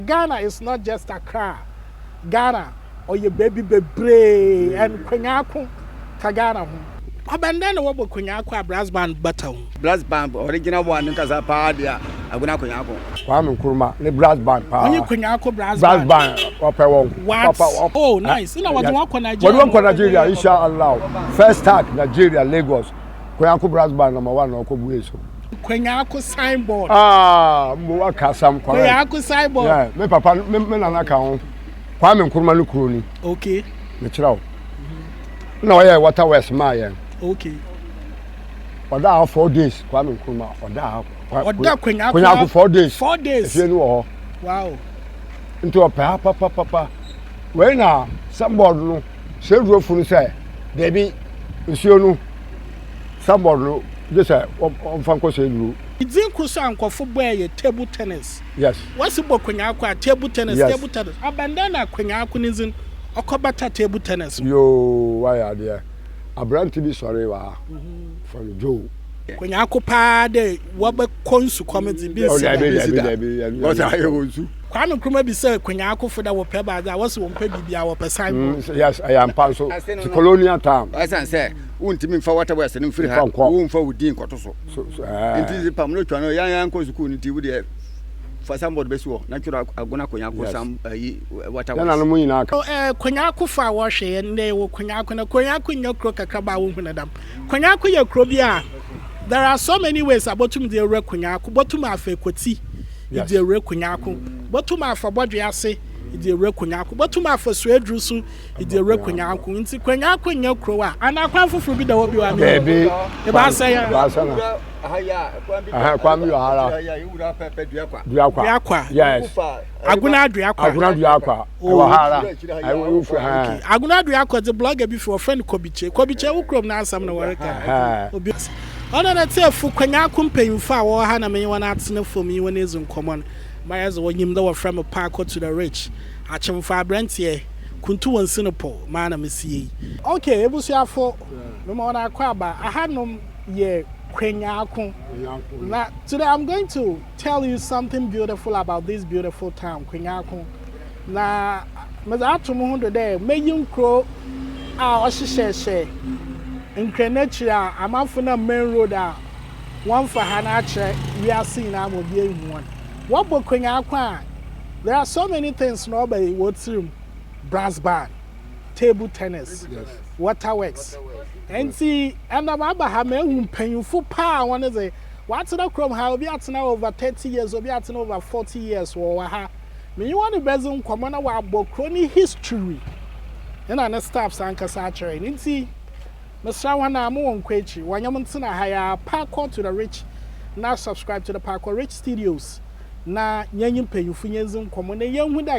Ghana is not just Accra Ghana ɔyɛ baabi bebree and Kwenyako ka Ghana ho. Kwaban dɛn na wɔbɔ Kwenyako a Brass Band bata ho? Brass Band original one ankasa paa deɛ Agona Kwenyako. Kwame Nkrumah ne Brass Band paa. Ɔnye Kwenyako Brass Band. Brass Band ɔpɛ wɔn papa. What? Oh nice. Nna wɔdze wɔn kɔ Nigeria. Wɔdze wɔn kɔ Nigeria insha Allah. First start Nigeria Lagos. Kweaako brass band number one na ɔkɔ bu eso. Kweaako signboard. Ah, mbo waka asam kɔrɛ. Kweaako signboard. Yeah, me papa me me nana ka ho. Kwame Nkrumah no kuro ni. Okay. Me kyerɛ wo. Na ɔyɛ water west maa yɛn. Okay. Ɔda ha four days Kwame Nkrumah ɔda ha. Ɔda Kweaako. Kweaako four days. Four days. Efie ni wɔ hɔ. Wow. Nti ɔpɛ ha papapapa. Wei na signboard no. Sɛ wura funu sɛ daabi nsuo no sanbɔɔd no gye sɛ ɔmfa nkɔ sɛ duro. Dzin kor so a nkorɔfo bɔe yɛ table tennis. Yes. Wɔse bɔ kwenyaako a, table tennis, Yes. table tennis. Abɛndɛn na kwenyaako ne dzin ɔkɔbata table tennis ho? Yoo wayɛ adeɛ. Aberante bi sɔree wɔ ha. Fa no Joe. Kwenyaako paa dɛ wɔbɛkɔ nsukɔm dze, bi nnsi da. Daabi, daabi, daabi. Ɔsɛ ayɛ wɔ nsu. Kwame Nkrumah bisaa Kwenyaa Akufo dɛ wɔpɛ baadze a, wɔse wɔmmpɛ biribiara, wɔpɛ sign board. Mm, yes, ɛyɛ ampa nso. Ti colonial town. Ɛsan sɛ, wontumi mfa Water West no mfiri ha, womfa wo din nkɔto so. So, so, ɛɛ. Nti dze pam no twa no, yɛn yɛn nkɔ sukuu no nti, wo deɛ fa sign board bɛsi hɔ na twerɛ Agona Kwenyaa Akufo sam ayi Water West. Yɛn mo nyinaa ka. Ɛɛ, Kwenyaa Akufo a wɔhwɛ yɛn ndɛ yɛwɔ Kwenyaa Ako na Kwenyaa Ako nyɛ kuro kakraba a wohu no dɛm. Kwenyako yɛ kuro bi a there are so many ways a botum dze ewura Kwenyako. Botum afa Ekotsi edze ewura Kwenyako. Botum afa Bɔdwe ase edze ewura Kwenyako. Botum afa Suedru so edze ewura Kwenyako. Ntsi Kwenyako nnyɛ kurow a. Anaa kwan fofor bi da hɔ bio a mennyim? Dabi, Ebaasa yi a. Ebaasa na. Ɛhɛn, kwan bi wɔ ha ara. Duakwa. Duakwa. Yes. Agunadua kwa. Agunadua kwa. Ɛwɔ ha ara. Ɛwɔ wo fie ha. Okay. Agona Adwere akɔdze blogger bi fi wɔfrɛ no Kɔbikye. Kɔbikye wo kurom n'asɛm na wɔreka. Obi ase. Ɔno na tsiefo Kwanyaako mpanyimfo a wɔwɔ ha na menye hɔn atsena famu nye hɔn edzi nkɔmbɔ no. Ma yɛdze wo nyim dɛ wɔfrɛ me Paako to the rich. Akyemfo aberantsɛ. Kuntu wɔ nsi no pow. Maa na mesi yɛ yi. Okay, ebusuafo, mema hɔn akɔ aba. Ahanom yɛ Kwanyaako. Na today I'm going to. tell you something beautiful about this beautiful town Kwenyako na medze ato mo ho do dɛ meyi nkuro a ɔhyehyɛhyɛ nkrɛ n'akyiri a amanfo nam main road a wɔmfa ha no akyerɛ wiase nyinaa ma obi ehu wɔn wɔbɔ Kwenyako a there are so many things na ɔba wɔ tirim brass band table tennis yes. waterworks nti ɛnam aba ha ma ehu mpanyinfo paa wɔn dze Watena kurom ha, obi atena hɔ over thirty years, obi atena over forty years wɔ wɔ ha. Me nye wɔn bedzi nkɔmbɔ na wɔabɔ kurow ne history na ne staffs ankasa akyerɛ hɛn. Ntsi, mesera hɔn a mowɔ nkwa ekyir, wɔnye me ntsena ha yi ara, Parkour to the Rich na subscribe to the Parkour Rich Studios na yɛnye mpanyimfo yendzi nkɔmbɔ na yenhu dɛ,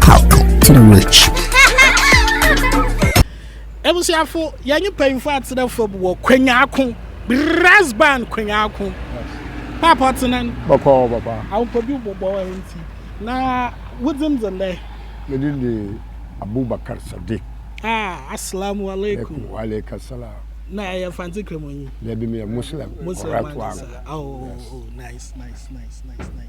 Talk to the rich. Ebusiafo, yɛnye mpanyimfo atsena fam wɔ kwenyaako, brass band kwenyaako. Paapa ɔtsena no. Bɔkɔɔ papa. Awopɔ bi bɔbɔ nti. Na wodzin dze ndɛ? Me din de Abubakar Sadiq. Ah, assalamu alaikum. Wa alaikum assalam. Na ɛyɛ Mfantse Kramonyi? Dabi, meyɛ Muslim. Muslim ankasa. Oh, oh, oh, nice, nice, nice, nice, nice.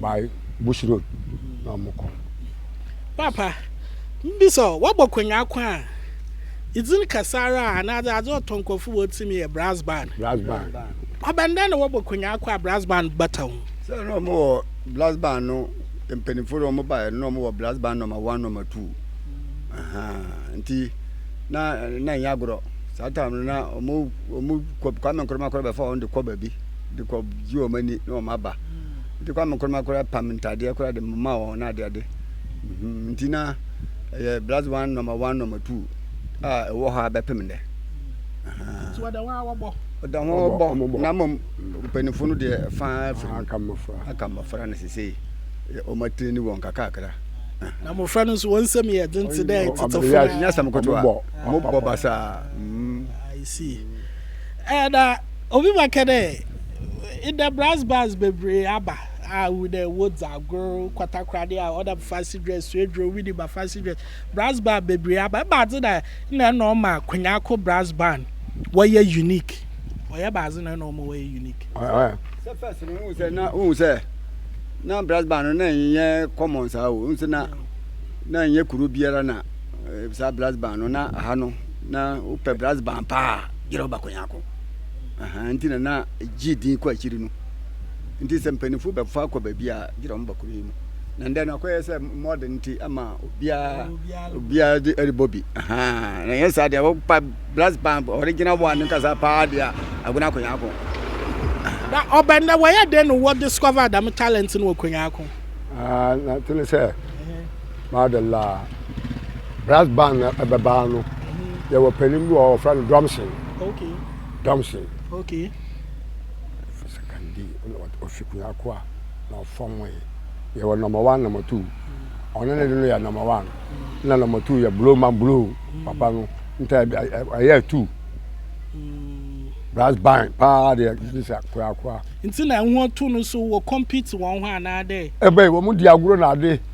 by Bush Road na wɔn kɔ. Paapa, mebisa o, wabɔ kwanya ko a, dzin kɛse ara a anaadze adze ɔtɔ nkorɔfo wɔ tsir mu yɛ Brass Band. Brass Band. Abɛnadɛn na wɔbɔ kwanya ko a Brass Band bata ho? Sɛ nna wɔn wɔ Brass Band no, mpanyinfo no wɔn baeɛ no, nna wɔn wɔ Brass Band nɔma one nɔma two. Nti na na ɛnyɛ agorɔ. Saa time no na wɔn wɔn Kwame Nkrumah kora bɛfa wɔn de kɔ baabi de kɔ gye wɔn ani na wɔn aba. Nti kwa me koroma koraa pam ntadeɛ koraa de moma wɔn na adeade. Mhm, nti na ɛyɛ blast one number one number two a ɛwɔ hɔ a bɛpem nnɛ. Nti wɔda hɔ a wɔbɔ. Wɔda hɔ a wɔbɔ na mmom mpanyinfoɔ no deɛ faa firi mu aka mmɔfra aka mmɔfra no sesei wɔn atire ne wɔn kakakra. Na mmɔfra no nso wɔn nsɛm yɛ den te dɛ tetefo. Nyɛ asɛm ketewa, wɔbɔ basaa. I see. Ɛda Obi bɛkɛ dɛ, Ndɛ brass bands beberee aba a ihu dɛ wɔdze agor, kwatakoradi a ɔnam fancy dress, suedwuro, wedding ba fancy dress, brass band beberee aba. Ebɛnadze na nna nna ɔma Kwenyako brass band wɔyɛ unique? Ɔyɛ ebɛnadze na nna ɔma wɔyɛ unique? Sɛ first no wohu sɛ na wohu sɛ na brass band no na nnyɛ common saa o. Wohu sɛ na na nnyɛ kuro biara na saa brass band no na aha no na wopɛ brass band paa a gyerɛ wo ba Kwenyako. Ahaa, nti na na gyee din kɔ akyiri no. Nti sɛ mpanyimfo bɛfa kɔ baabi a, gyina wɔn bakuru yi mu. Na ndɛ no, akɔyɛ sɛ mɔden nti ama obiara obiara de ɛrebɔ bi. Ahaa, na ɛnyɛ saa deɛ, wɔpa brass band, original one nkasa paa deɛ a, Agona Konyaako. Na ɔbɛn dɛ, wɔyɛ dɛn na wɔ discover dɛm talent no wɔ Konyaako? Ahaa, na to no sɛ. Madalla. Brass band na ɛbɛbaa no. Yɛwɔ panin bi wɔ hɔ wɔfrɛ no Drumson. Okay. Drumson. Okay. Sakandi na ɔfi Kunyako a na ɔfam wɔ yi. Yɛwɔ number one number two. Ɔno ne de no yɛ number one. Na number two yɛ blow man blow papa no. Nta ɛyɛ two. Brass band paa deɛ gye sɛ Kunyako a. Nti na ɛho to no so wɔ compete wɔn ho anaadɛ. Ɛbɛyi wɔn di agorɔ na ade.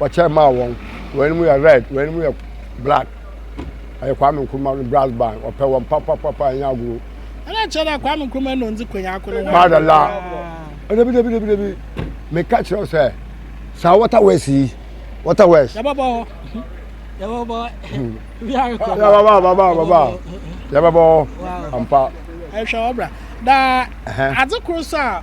wɔkyɛ maa wɔn wɔn anim yɛ red wɔn anim yɛ black ɛyɛ kwame nkrumah no brass band ɔpɛ wɔn papapapa ɛnyɛ agorɔ. ɛna kyerɛ dɛ kwame nkrumah na ɔndzi konyako no ho madala ɛdabi dabi dabi dabi meka kyerɛ wo sɛ saa water west yi water west yɛbɛbɔ hɔ yɛbɛbɔ yɛbɛbɔ yɛbɛbɔ yɛbɛbɔ ampa ɛhwɛ ɔbra na adze koro so a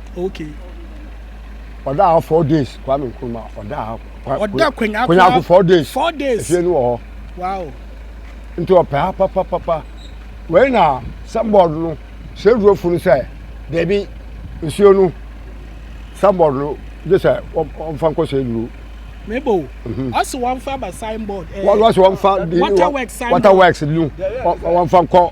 okay ɔda ha four days kwame nkrumah ɔda ha ɔda kwenyako four days four days efie no wɔ hɔ wow nti ɔpɛ ha papapapa wei na sambɔɔd no sɛ duro funu sɛ dɛbi nsuo no sambɔɔd no gye sɛ ɔmfa nkɔ sɛ duro. mebo mhm. ɔsi wɔn fa ba signboard. Eh, wɔn wɔsi wɔn fa water works signboard water works nu wɔn fa nkɔ.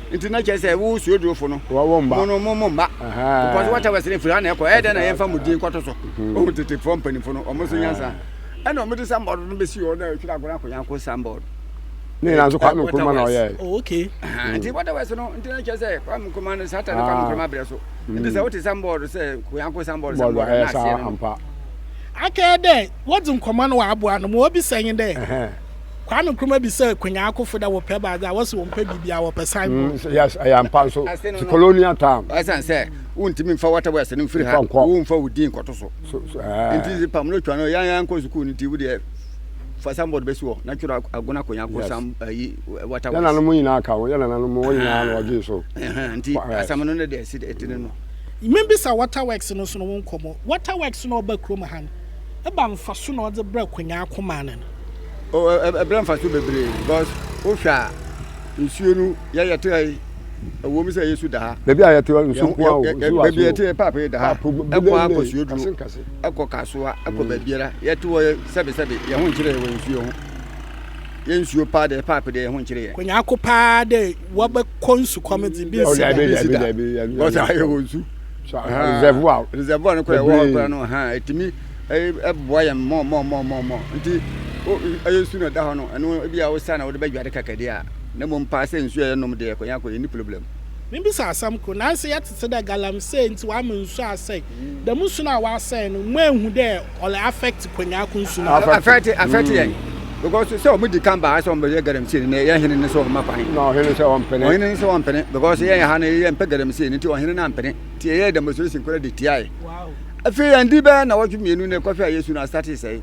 Nti na kyerɛ sɛ wo suadurofo no, wɔwɔ mma. mo no mo mo mma. Aha. Because whatever sɛ firi ha na ɛkɔ, ɛyɛ dɛn na yɛmfa mo din kɔto so? Mhm. Ohun tetefoɔ mpanyinfo no, wɔn nso nyansa. Ɛna wɔde sanbɔɔdo no bɛsi hɔ na ɛtwerɛ Agona Konyanko sanbɔɔdo. Ne nyinaa nso Kwame Nkrumah na ɔyɛɛ. Oh, okay. Aha, Nti whatever sɛ no, nti na kyerɛ sɛ Kwame Nkrumah no satan no Kwame Ah. Nkrumah brɛ so. Nti sɛ wote sanbɔɔdo sɛ Konyanko sanbɔɔdo Bɔɔdo sanbɔɔdo a, ɛyɛ na aseɛ saa no no. ampa. Akɛɛ dɛ wɔdze nkɔmbɔ no wɔaboa no ma obisa nye dɛ. Ɛhɛn. Kwame Nkrumah bisa Kwenyaa Akufo dɛ wɔpɛ baadze a, wɔse wɔmmpɛ biribiara, wɔpɛ sign board. Mm, yes, ɛyɛ ampa nso. Ti colonial time. Ɛsan sɛ, wontumi mfa wata wɔ ɛsɛ no mfiri ha, womfa wo din nkɔto so. Nti pam no twa no, yɛn yɛn nkɔ sukuu no nti wo deɛ fa sanbɔd bɛsi hɔ na twerɛ agona konya ko sam ayi wata wɔ. Yɛn nananom nyinaa ka ho, yɛn nananom wɔn nyinaa na wɔgye so. Nti asɛm no ne deɛ ɛsi ɛtene no. Membisa Waterworks no nso no wo nkɔmmɔ. Waterworks no ɔba kurom ha no, Ebɛn mfaso na ɔdze brɛɛ konyɛɛ ko maa no no? O, ɛbrɛ mfaso bebree because wohwɛ a, nsuo no yɛ yɛte ha yi, ɛwɔ mu sɛ yɛsu da ha. Baabi a yɛte hɔ nsuo nko ara o, nsuo wɔ aseɛ o. Baabi yɛte yɛ paapoo da ha, ɛkɔ ara kɔ suoduro, ɛkɔ kasoa, ɛkɔ baabiara. Yɛte hɔ yɛ sɛbe sɛbe, yɛn ho nkyerɛ yɛ wɔ nsuo ho. Yɛ nsuo paa deɛ, paapoo deɛ yɛn ho nkyerɛ yɛ. Konyɛɛ ko paa dɛ wɔbɛkɔ nsukɔm dze bi nsi da. Daabi daabi daabi daabi daabi daabi. Because ayɛ wɔ nsu. reservoir reservoir no kora ɛwɔ hɔ kora no ha ɛtumi ɛboa yɛn mɔ mɔ mɔ mɔ mɔ nti ɛyɛ nsu na ɛda hɔ no ɛno ebi a wosa na wode bɛdware kakade a na mmom paa sɛ nsu a yɛnom deɛ kɔnya kɔ yɛni problem Mebisa asɛm koro, nanse yɛtete dɛ galamsey ntsi wɔama nsu asɛe. Dɛm nsu no a wɔasɛe no, moennhu dɛ ɔlɛ affect kɔnyaa ko nsu no. affect affect yɛn mm. because sɛ ɔmo di kan baa sɛ ɔmo bɛyɛ galamsey no na yɛ hene ne sɛ ɔma kwan na ɔhene sɛ ɔmpene ɔhene ne sɛ ɔmpene because yɛn ha no yɛ mpɛ galamsey no nti ɔhene no ampene nti yɛyɛ demonstration kora de tiae afei yɛn di bɛyɛ na wɔtwe mmienu na ɛkɔhwɛ a yɛsu no asate sɛe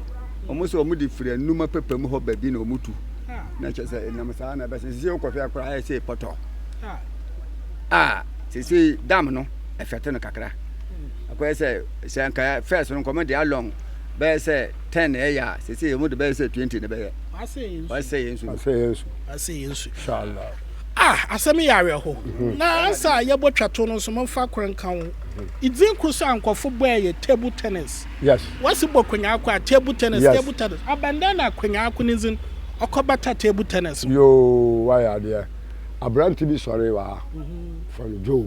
ɔmo sɛ ɔmo de firi anuma pɛpɛ mu hɔ baabi na ɔmo tu na kyɛ sɛ ɛnam saa na ɛbɛsɛ sisi wokɔhwɛ akora ayɛ sɛ pɔtɔ a sisi dam no ɛfɛte no kakra akɔyɛ sɛ sɛ nka first no nkɔmɔ de along bɛyɛ sɛ ten na ɛyɛ a sese yɛ mo de bɛyɛ sɛ twenty na bɛyɛ wasɛ yɛn su wasɛ yɛn su wasɛ yɛn su inshallah ah asɛm yɛ awerɛho mhm. na ansa a yɛbɔ twato no nso momfa koro nka ho ɛdin mhm. koro sɛ ankɔfo bɔɛ yɛ table tennis yes wasi bɔ konyaako a table tennis yes. table tennis abɛndɛn na konyaako ne nzin ɔkɔbata table tennis yoo wayɛ adeɛ aberante bi sɔre wɔ ha mhm. from joe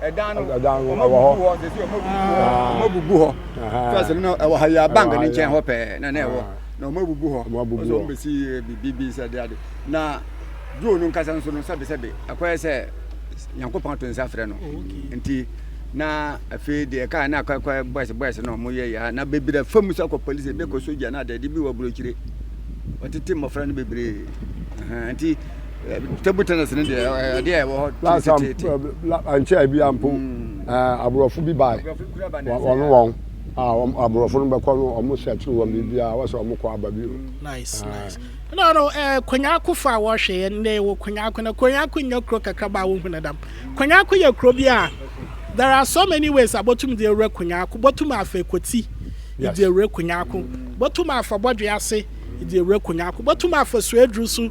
ɛdan no ɔmo bubu hɔ tete ɔmo bubu hɔ ah. ɔmo bubu hɔ fɛs no ɛwɔ ha yɛ bank ne nkyɛn hɔ pɛɛ na na ɛwɔ ah. na ɔmo bubu hɔ ɔsɛ ɔmo besi eh, bibi sɛ de ade na duro no nkasa nso no sɛbisɛbi ɛkɔyɛ sɛ nyankopɔn ato nsa frɛ no oh, nti na afei deɛ kaa na akɔkɔ boys boys na ɔmo yɛ yɛ na bebree fam sɛ kɔ polisi ebi kɔ sogya na ade ebi wɔ burokyire wɔtete mmɔfra no bebree nti. table tennis ne deɛ ɛde a ɛwɔ hɔ teteete ankyɛ ebi ampo aborɔfo bi bae wɔn wɔn a aborɔfo no bɛkɔ no wɔn hyɛ akyiri wɔn biribiara wɔsɛ wɔn kɔ aba bio nice nice no no eh, konyako fa a wɔhwɛ yɛ nnɛ wɔ konyako na konyako nyɛ kuro kakraba a wohu no dam konyako yɛ kuro bi a there are so many ways a bɔtum de awura konyako bɔtum afa ekoti de awura konyako bɔtum afa bɔdwe ase de awura konyako bɔtum afa suaduru so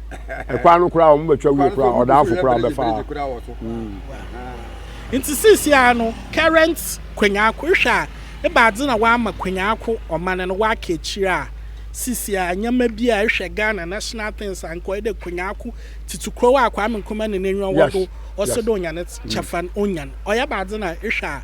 ɛkwan no koraa wɔn bɛtwa wie koraa ɔdaafo koraa bɛfa hmm. nti sisi a no current kwanyaako hwɛ a ebaadze na wama kwanyaako ɔman no waka akyire a sisi a nneɛma bi a ehwɛ ghana national things a nkɔyɛ dɛ kwanyaako titi kuro a kwame nkrumah ne n'enyiwa wɔ do ɔsɛ dɛ onya ne kyɛfa onyan ɔyɛ baadze na ehwɛ a.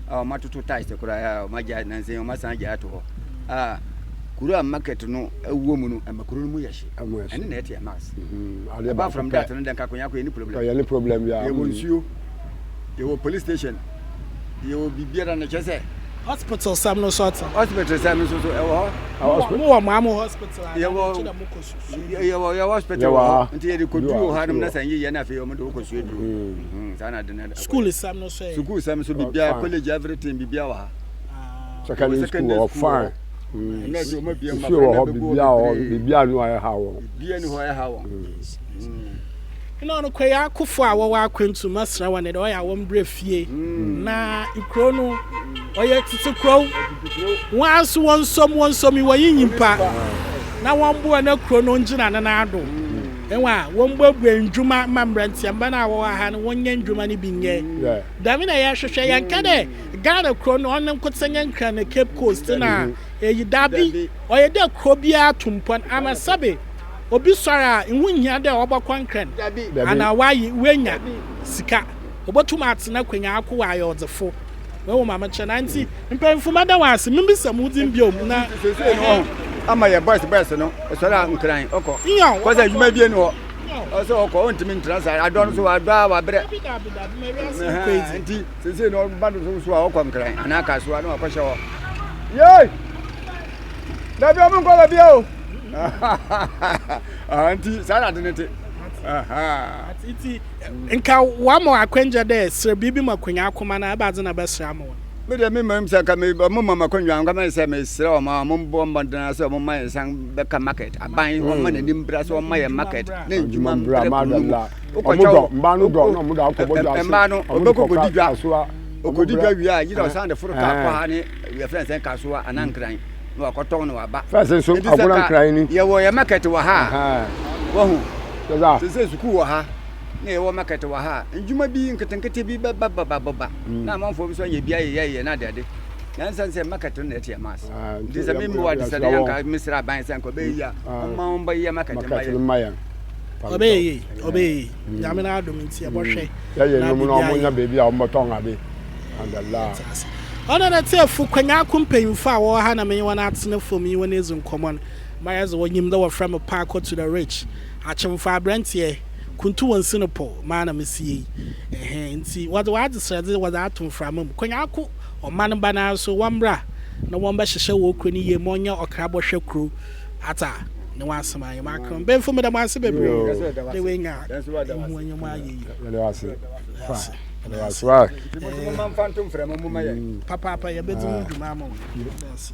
a wɔatoto tiles koraa a wɔagyae nansa yi wɔasan agyae ato hɔ a kuro a market no wɔ mu no ɛma kuro no mu yɛ hye ɛne na ɛte ɛmas apart from that no dɛ nkakoyako yɛ ne problem yɛ ne problem yɛ yɛwɔ nsuo yɛwɔ police station yɛwɔ biribiara na kyerɛ sɛ hospital sɛm no so ɔte hospital sɛm no so so ɛwɔ hɔ ah, mo wɔ mo amo hospital a yɛwɔ kyerɛ mo kɔ susu yɛwɔ yɛwɔ hospital wɔ hɔ nti yɛde kɔduru wɔ hɔ anom na sɛ nyeyɛ no afei ɔmo de wokɔ suo duru saa na de no School sɛm no so ɛ. Sukuu sɛm so bibia college everything bibia wɔ ha. Secondary school wɔ hɔ fine. Nsuo wɔ hɔ bibia wɔ hɔ bibia ni hɔ a ɛha wɔn. Bibia ni hɔ a ɛha wɔn. Ɛna ɔno kɔ yɛ akofo a wɔwɔ akwantu masra wɔn dɛ ɔyɛ wɔn brɛ fie na kuro no ɔyɛ tete kuro wɔn aso wɔn nsom wɔn nsom wɔn yi nyimpa na wɔn boɔ na kuro no ngyina ne nan do. Hɛn a, wɔmbuebue ndwuma ma mberantsiamba no a wɔwɔ ha no wɔnyɛ ndwuma no bi nyɛ. Dɛm na yɛhwehwɛ. Yɛnnka dɛ Ghana kurow no ɔno nkotsee nye Nkran na Cape Coast na eyi, dabi, ɔyɛ dɛ kurow biara tu mpon ama sɛbe obi soɛr a, ho nnhia dɛ ɔbɔkɔ Nkran anaa ɔaye, oenya sika, obotum atsena akwanya aakɔ, ɔayɛ ɔdzefo. Woehu ma mekyerɛ no? Ntsi. Mpanyimfo meda wɔn ase. Mebisa mo din bio na. Nti seesei no ɔho ama yɛ boys boys no ɛsɔre a nkran ɔkɔ kɔsɛ adwuma bie no hɔ ɔsɛ ɔkɔ ɔntumi ntra saa adɔ no so wadɔ a wabrɛ nti seesei no ɔba no so so a ɔkɔ nkran anaa ka so a na wakɔhyɛ hɔ yei dabi ɔmo nkɔ baabi a o ah, nti saa na ade ne te nti nka wamɔ akwangya dɛ serɛ biribi ma kwanya akoma no ɛbaadze na bɛsrɛ ama wɔn Me deɛ me mmam sɛ nka me ɔmo ma makɔnwa nka mɛyɛ sɛ mesrɛ ɔmo a ɔmo bɔ mmɔden sɛ ɔmo ma yɛn san bɛka market aban mm. ɔmo ma n'anim bra sɛ ɔmo ma yɛn market ne ndwuma mbra mu wokɔtwa wɔ mbaa no dɔ na ɔmo da akɔbɔ dwa ase mbaa no ɔbɛkɔ kɔdi dwa ɔkɔdi dwa wie a yiri ɔsan de foro kaa kɔ ha ne yɛfrɛ nsɛn kasoa anaa nkran na wakɔtɔn na waba fɛsɛ nso agona nkran ni yɛwɔ yɛ market wɔ ha wɔho sɛ sɛ sukuu wɔ ha na yɛwɔ market wɔ ha a, ndwuma bi nketenkete bi bɛba bɛba bɛba mm. na amanfoɔ bi nso ayɛ bi ayɛ yɛyɛ na adeade na nsan sɛ market no na ɛte ɛma ase ah, nti sɛ memmoa de sɛ de yɛnka mesrɛ aban sɛ nka ɔbɛyɛ yi a ah. ɔma ɔmbɛyɛ market ma yɛ ɔbɛyɛ yie ɔbɛyɛ yie mm. nyame no adom nti ɛbɔhwɛ mm. yɛyɛ nom no ɔmonya baabi a ɔmbɛtɔn ade andala ɔno na tiefo kwanya ko mpanyimfo a wɔwɔ ha na menye wɔn atena fam yi wɔn adzi nkɔmmɔ no ma yɛdze wɔnyim dɛ wɔfrɛ me paakɔ to the rich Akyemfo aberanteɛ, kuntu wo nse no pɔ maa na mesi yei ɛhɛɛ nti wɔde w'adesrɛdze wɔdze ato mframa mu. Konyako ɔman ba no ara so wɔmmra na wɔmbɛhyehyɛ wɔ kuro no yie ma ɔnyɛ ɔkra bɔhwɛ kuro ata ne w'asɛm ayɛ m'akra mbenfo meda mo ase bebree dɛ w'anya nhuanya mu ayɛ yie. Yɛda wo ase fa yɛda wo ase wai. Papaapa yɛbɛdzi ho dwuma ama wo. Yɛda wo ase.